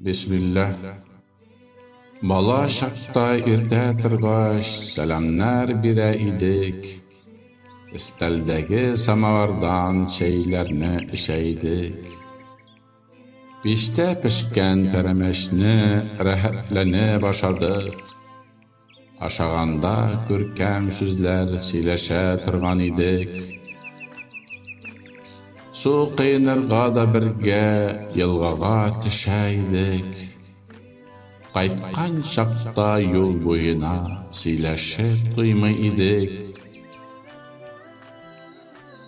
Бисмиллах. Бала чакта иртә торгач, сәламнәр бирә идек. Өстәлдәге самавардан чәйләрне эчә идек. Пиштә пешкән пәрәмәчне рәхәтләнеп ашадык. Ашаганда күркәм сүзләр сөйләшә торган идек. Су коенырга да бергә елгага төшә идек. Кайткан чакта юл буена сөйләшеп туймый идек.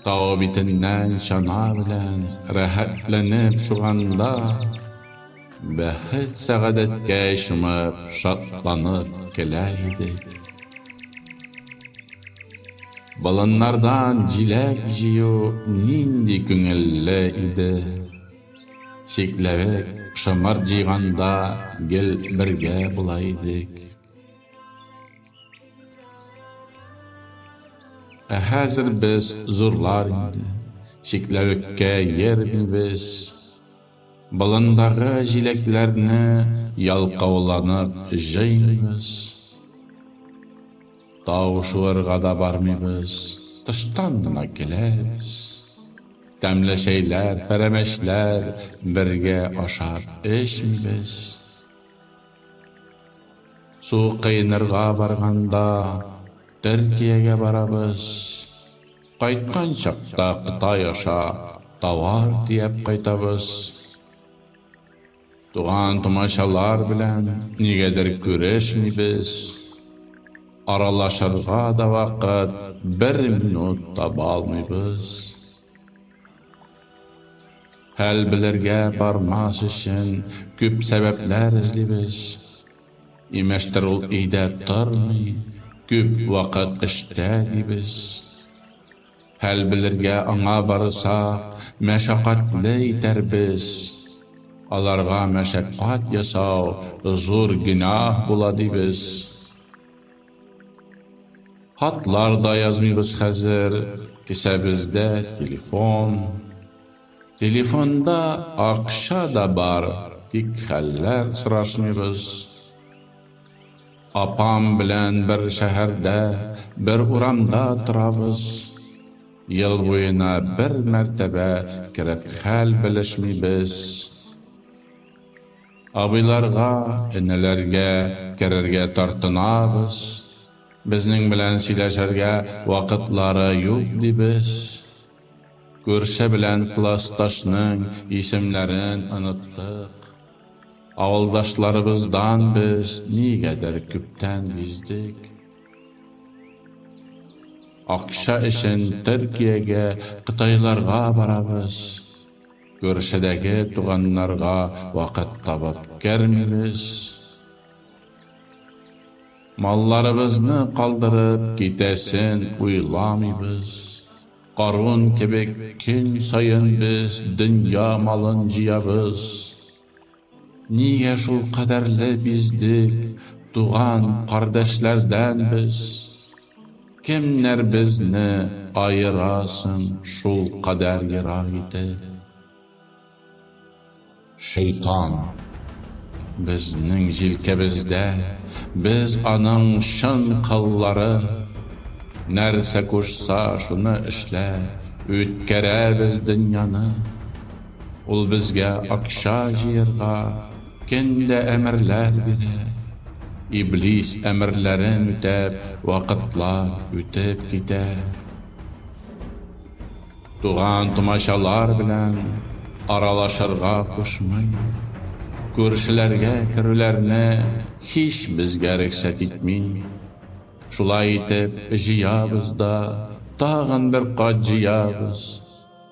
Тау битеннән чана белән рәхәтләнеп шуганда. Бәхет-сәгадәткә чумып, шатланып көләр идек. Болыннардан җиләк җыю нинди күңелле иде! Чикләвек, шомырт җыйганда гел бергә була идек. Ә хәзер без зурлар инде, чикләвеккә йөрмибез. Болындагы җиләкләрне ялкауланып җыймыйбыз. Тау шуырга да бармыйбыз, тыштан гына киләбез. Тәмле чәйләр, пәрәмәчләр бергә ашап эчмибез. Су кыйнырга барганда Төркиягә барабыз. Кайткан чакта Кытай аша товар тияп кайтабыз. Туган-тумачалар белән нигәдер күрешмибез. Аралашырга да вакыт бер минут табалмыйбыз. Хәл белергә бармас өчен күп сәбәпләр эзлибез. Имештер ул өйдә тормый, күп вакыт эштә дибез. Хәл белергә аңа барсак, мәшәкатьле итәрбез. Аларга мәшәкать ясау зур гөнаһ була дибез. Хатлар да язмыйбыз хәзер, кесәбездә телефон. Телефонда акча да бар, тик хәлләр сорашмыйбыз. Апам белән бер шәһәрдә, бер урамда торабыз. Ел буена бер мәртәбә кереп хәл белешмибез. Абыйларга, энеләргә керергә тартынабыз. Безнең белән сөйләшергә вакытлары юк, дибез. Күрше белән классташның исемнәрен оныттык. Авылдашларыбыздан без нигәдер күптән биздек. Акча өчен Төркиягә, кытайларга барабыз. Күршедәге туганнарга вакыт табып кермибез. Малларыбызны калдырып китәсен уйламыйбыз. Карун кебек көн саен без дөнья малын җыябыз. Нигә шул кадәрле биздек, туган, кардәшләрдән без? Кемнәр безне аера соң шул кадәр ерак итеп? Шейтан, безнең җилкәбездә, без аның чын коллары. Нәрсә кушса, шуны эшләп, үткәрәбез дөньяны. Ул безгә акча җыярга көн дә әмерләр бирә. Иблис әмерләрен үтәп, вакытлар үтеп китә. Туган-тумачалар белән аралашырга кушмый. Күршеләргә керүләрне һич безгә рөхсәт итми. Шулай итеп, җыябыз да тагын бер кат җыябыз.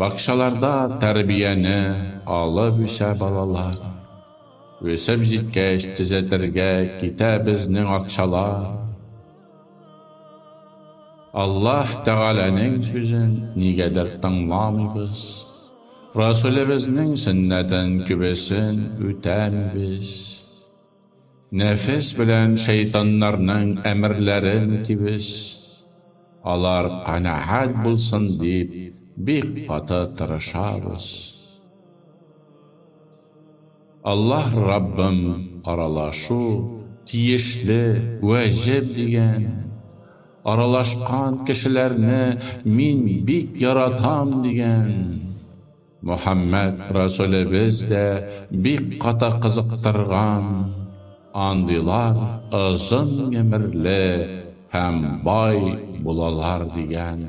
Бакчаларда тәрбияне алып үсә балалар. Үсеп җиткәч, төзәтергә китә безнең акчалар. Аллаһ Тәгаләнең сүзен нигәдер тыңламыйбыз. Расүлебезнең сөннәтен күбесен үтәмибез. Нәфес белән шәйтаннарның әмерләрен үтибез, алар канәгать булсын дип бик каты тырышабыз. Аллаһ Раббым аралашу, тиешле, вәҗеб дигән, аралашкан кешеләрне мин бик яратам дигән. Мөхәммәд Расулебез дә бик каты кызыктырган андыйлар озын гомерле һәм бай булалар дигән.